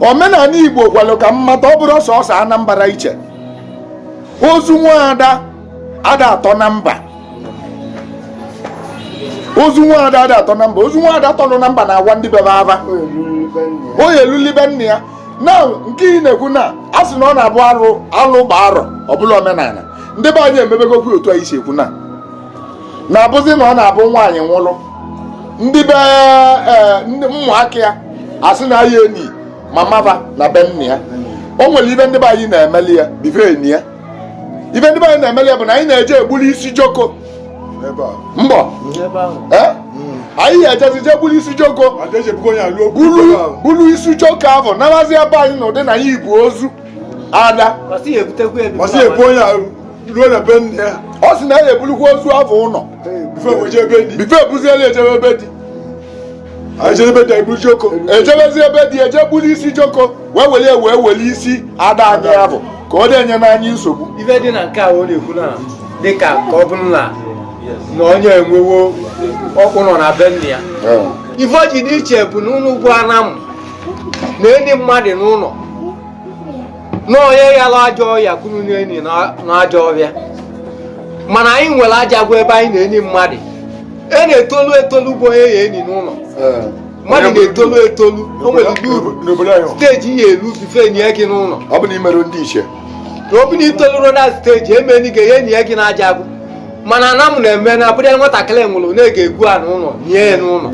omenani igbo gwalụ ka m mata ọ bụrụ sọsọ anambra iche ozu nwaada ada atọ na mba ozu nwaada ada atọ na mba ozu nwaada tọlụ na mba na-agwa ndị bebe ava o yeluli be nna ya na nke ị na-ekwu na a sị na ọ na-abụ alụ gbaa arọ ọ bụlụ omenani ndị be anyị emebegokwu otu anyị si ekwu na na-abụzi na ọ na-abụ nwaanyị nwụlụ ndị be eh, ụmụaka ya asị na ya eni mama va na be nna ya o nwelụ ive ndị be anyị na-emeli ya before e nie ya ive ndị be anyị na-emeli ya bụ na anyị na-eje egbuli isi joko mbọ eh? anyị ga-ejezi jee gbulu isi joko bulu isi joko avụ nawazị be anyị n'ụdị na ya ibu ozu ada ruo na be nna ya ọ sị na ya ebulukwa ozu avụ ụlọ before ebuzie be di before ebuzi ebe ejebe be di ejebezi be di eje gbulu isi joko wee were wee were isi ada anyị ya bụ ka ọ na-enye anyị nsogbu ife dị na nke a ọ na-ekwu na dị ka ọ bụrụ na na onye enwewo ọkpụnọ na be nna ya ife o ji dị iche bụ na unu bụ anam na-eni mmadụ n'ụlọ na onye yalụ ajọ ọya ka unu na-eni n'ajọ ọhịa mana anyị nwere ajagụ ebe anyị na-eni mmadụ a na-etolu etolu bụ onye a ya-eni n'ụlọ mmadụ na-etolu etolu o nwere ụdị stage ị ya-elu before e nie gị n'ụlọ ọ bụ na imerọ ndị ichie na ọ bụ na itolurọ na stage emeni ga-eni gị n'ajagụ mana anam na-eme na a bụrụ nwatakịrị nwụrụ na-eje egwu ana n'ụlọ nie ya n'ụlọ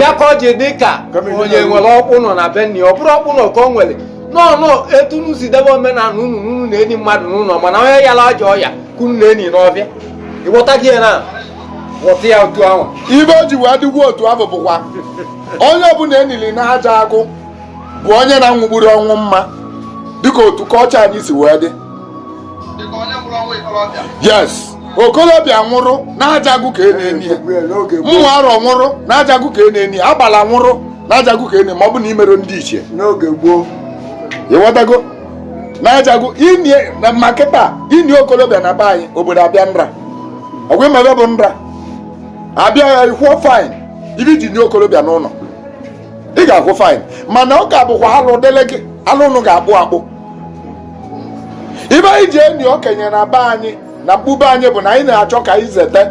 ya ka o ji dị ka onye nwere ọkpụnọ na be nna ya ọ bụrụ ọkpụnọ ka o nwere na unu etu unu si debe omenani unu unu na-eni mmadụ n'ụlọ mana onye yalụ ajọ ọya ka unu na-eni n'ọvịa ịghọta gị ya na ghọta ya otu ahụ ive o ji wee dịkwa otu ahụ bụkwa onye ọbụla e nili n'ajagụ bụ onye na-anwụburọ ọnwụ mma dịka otu culture anyị si wee dị dịka onye nwụrụ ọnwụ ikorobịa yes okolobịa nwụrụ n'ajagụ ka a na-eni ya nwa arọ nwụrụ n'ajagụ ka a na-eni ya agbala nwụrụ n'ajagụ ka a na-eni ma ọ bụ na imerọ ndị ichie n'oge gboo ịghọtago n'ajagụ ini ya ma kịta ini okolobịa na be anyị obodo abịa nra ọkwa ị ma ive bụ nra abịa ya ị kwụọ fine ive i ji nie okolobịa n'ụlọ ị ga-akwụ fine mana ọ ga-abụkwa alụ dịlị gị alụ unu ga-akpụ akpụ ive anyị ji eni okenye na be anyị na mkpu be anyị bụ na anyị na-achọ ka anyị zete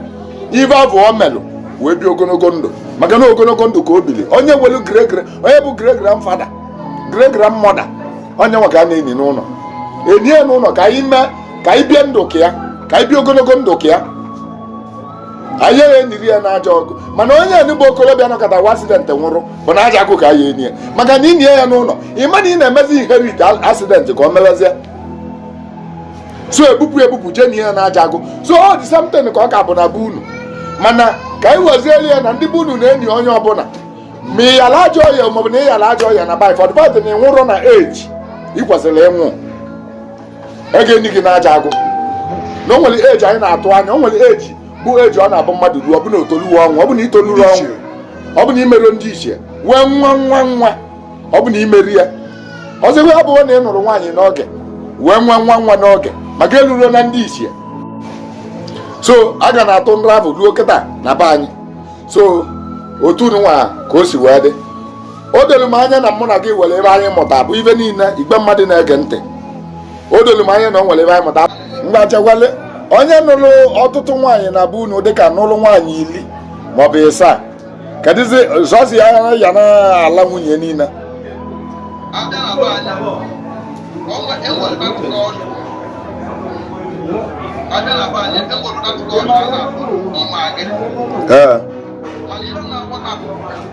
ive avụ o melụ wee bi ogologo ndụ maka na ogologo ndụ ka o bili onye nwelụ great great onye bụ great great father great great mother onye nwa ka a na-eni n'ụlọ e nie n'ụlọ ka anyị mee ka anyị bie ndụ ka ya ka anyị bie ogologo ndụ ka ya anyị ya enyiri ya n'aja agụ mana onye enu bụ okorobịa nọkata wa accident nwụrụ bụ n'aja agụ ka anyị enyi ya maka na inyi ya n'ụlọ ị ma na ị na-emezi inherit accident ka o mewezie so ebupụ ebupụ jee nie ya n'aja agụ so ọ dị something ka ọ ka bụ na be unu mana ka anyị wezieli ya na ndị be unu na-enyi onye ọbụla ma ị yala ajọ ọrịa maọbụ na ị yala ajọ ọrịa na bif ọdịbadị na ị nwụrụ na age ị kwesịrị ịnwụ e ga-enyi gị n'aja agụ na o nwere age anyị na-atụ anya o nwere age bụ age ọ na-abụ mmadụ ruo ọ bụ na o toluwe ọnwụ ọ bụ na i toluru ọnwụ ọ bụ na i meruo ndị ichie wee nwa nwa nwa ọ bụ na i meru ya ọzọ ebe ọ bụrụ na ị nụrụ nwaanyị n'oge wee nwa nwa nwa n'oge maka e luruo na ndị ichie so a ga na-atụ nra ahụ ruo kịta na be anyị so otu nwa ka o si wee dị o doro m anya na mụ na gị were ive anyị mụta bụ ibe niile igwe mmadụ na-ege ntị o doro m anya na o nwere ive anyị mụta mgbachagwale onye nụrụ ọtụtụ nwaanyị na be unu dịka nụrụ nwaanyị iri maọbụ ịsaa kedụzi ụzọ o si ya ya na ala nwunye niile ee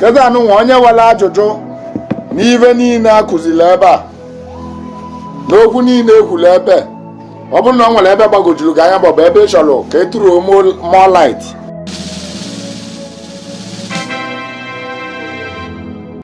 kịta nụnwa onye nwere ajụjụ n'ive niile a kụziri ebe a n'okwu niile e kwuru ebe ọ bụrụ na o nwere ebe gbagojuru gị anya maọbụ ebe ị chọrọ ka e throw more light